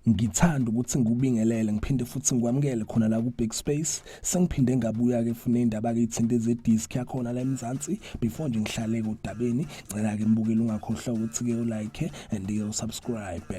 ngithanda ukuthi ngikubingelele ngiphinde futhi ngikwamukele khona la ku Big Space sengiphinde ngabuya ke funa indaba ke ithinte ze disc yakhona la eMzansi before nje ngihlale kodabeni ngicela ke mbukele ungakhohlwa ukuthi ke ulike and ke usubscribe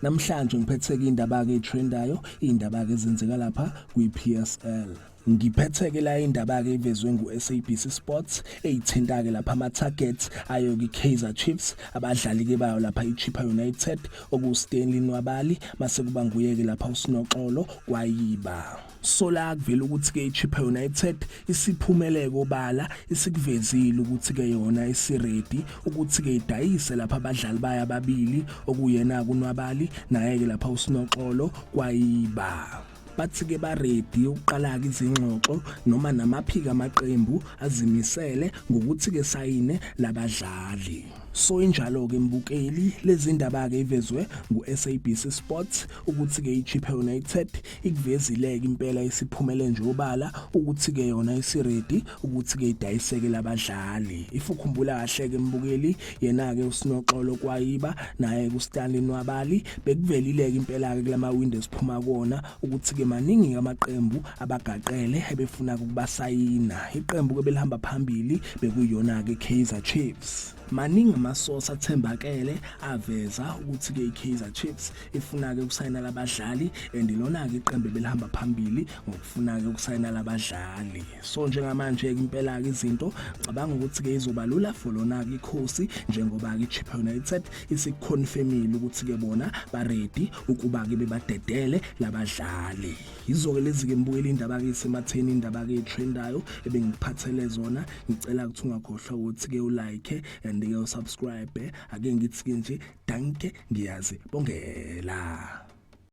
Namhlanje ngiphetheke indaba-ke etrendayo, iy'ndaba-ke ezenzeka lapha kwi-PSL. Ngiphetheke la indaba-ke ivezwe ngu-SABC Sports eyithinta-ke lapha ama-targets ayo kwi-Kaizer Chiefs, abadlali-ke bayo lapha i-Chippa United okuwuStanley Nwabali, mase kuba nguye-ke lapha uSinoxolo Kwayiba. Sola akuvela ukuthi ke iChippa United isiphumele kobala isikuvezile ukuthi ke yona isiready ukuthi ke idayise lapha abadlali bayo ababili okuyena kunwabali naye ke lapha usinoxolo kwayiba bathi ke baredi ukuqala ke izingxoxo noma namaphika amaqembu azimisele ngokuthi ke sayine labadlali So injalo ke mbukeli lezindaba ke ivezwe nguSABC Sports ukuthi ke iChippa United ikuvezile ke impela isiphumele nje obala ukuthi ke yona isiready ukuthi ke idayiseke labadlali. If ukhumbula kahle ke mbukeli yena ke usinoxolo kwayiba naye kuStanley Nwabali bekuvelile ke impela ke kulama window siphuma kona ukuthi-ke maningi amaqembu abagaqele ebefuna ukubasayina iqembu ke belihamba phambili bekuyona-ke i-kaizer chiefs maningi amasosi athembakele aveza ukuthi-ke i-kaizer chiefs ifuna-ke ukusayina labadlali and lona-ke iqembu belihamba phambili ngokufuna-ke ukusayina labadlali so njengamanje impela ke izinto cabanga ukuthi ke izoba lula for lona ke ikhosi njengoba ke Chippa United isiconfirmile ukuthi ke bona ba ready ukuba ke bebadedele labadlali yizoke lezi ke mbuyela indaba ke sematheni indaba ke trendayo ebengiphathele zona ngicela ukuthi ungakhohlwa ukuthi ke ulike and ke usubscribe ake ngithi ke nje danke ngiyazi bongela